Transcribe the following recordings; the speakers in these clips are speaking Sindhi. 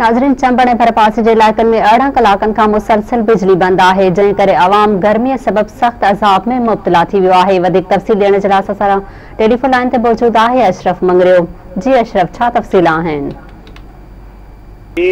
ناظرين چمبڙ ۽ ڀرپاسي جي علائقن ۾ ارڙهن ڪلاڪن کان مسلسل بجلي بند آهي جنهن ڪري عوام گرمي سبب سخت عذاب ۾ مبتلا ٿي ويو آهي وڌيڪ تفصيل ڏيڻ جي لاء اسان سان ٽيليفون لائين تي موجود آهي اشرف مڱريو جي اشرف ڇا تفصيل آهن. جي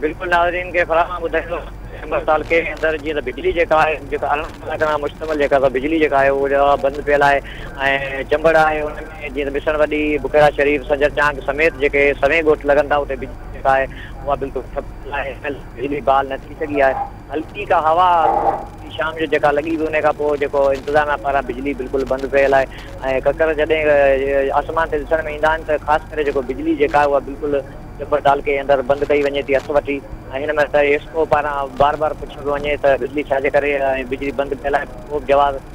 بلڪل ناظرين کي فراهم ٻڌائيندو چمبڙ تعلقي جي اندر جيئن ته بجلي جيڪا آهي جيڪا ارڙهن ڪلاڪن کان مشتمل جيڪا سا بجلي جيڪا آهي اها بند پيل آهي ۽ چمبڙ آهي جيئن ته بسڻ وڏي، بڪيرا شريف، سنجر چانگ سميت جيڪي سوين ڳوٺ لڳن ٿا اتي بجلي جيڪا آهي اها بلڪل ٺپ ٿيل آهي ان ڪري بجلي بحال نه ٿي سگهي آهي هلڪي ڪا هوا ٿوري شام جو جيڪا لڳي هئي ان کان پوء جيڪو انتظاميا پاران بجلي بلڪل بند ڪيل آهي ۽ ڪڪر جڏهن آسمان تي ڏسڻ ۾ ايندا آهن ته خاص ڪري جيڪو بجلي جيڪا آهي اها بلڪل چمبڙ تعلقي اندر بند ڪئي وڃي ٿي هٿ وٺي ۽ هن مهل ايسڪو پاران بار بار پڇيو پيو وڃي ته بجلي ڇا جي ڪري ۽ بجلي بند ڪيل آهي ڪوبه جواز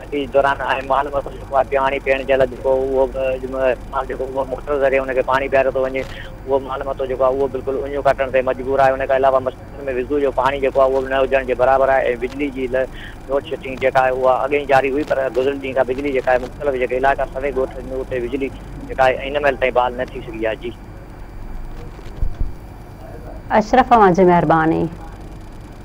حديث دوران آء مال مسئلو جيڪو آهي پياڻي پيئڻ جي لاء جيڪو اهو به مال جيڪو اهو موٽر ذريعي ان کي پاڻي پياريو ٿو وڃي اهو مال متو جيڪو آهي اهو بلڪل اڃيون ڪاٽڻ تي مجبور آهي ان کان علاوه مسجدن ۾ وضو جو پاڻي جيڪو آهي اهو به نه هجڻ جي برابر آهي ۽ بجلي جي لوڊ شيڊنگ جيڪا آهي اها اڳ ئي جاري هئي پر گذريل ڏينهن کان بجلي جيڪا آهي مختلف جيڪي علائقا سوين ڳوٺ جن اتي بجلي جيڪا آهي هن مهل تائين بحال نه ٿي سگهي آهي جي. اشرف اوهان جي مهرباني.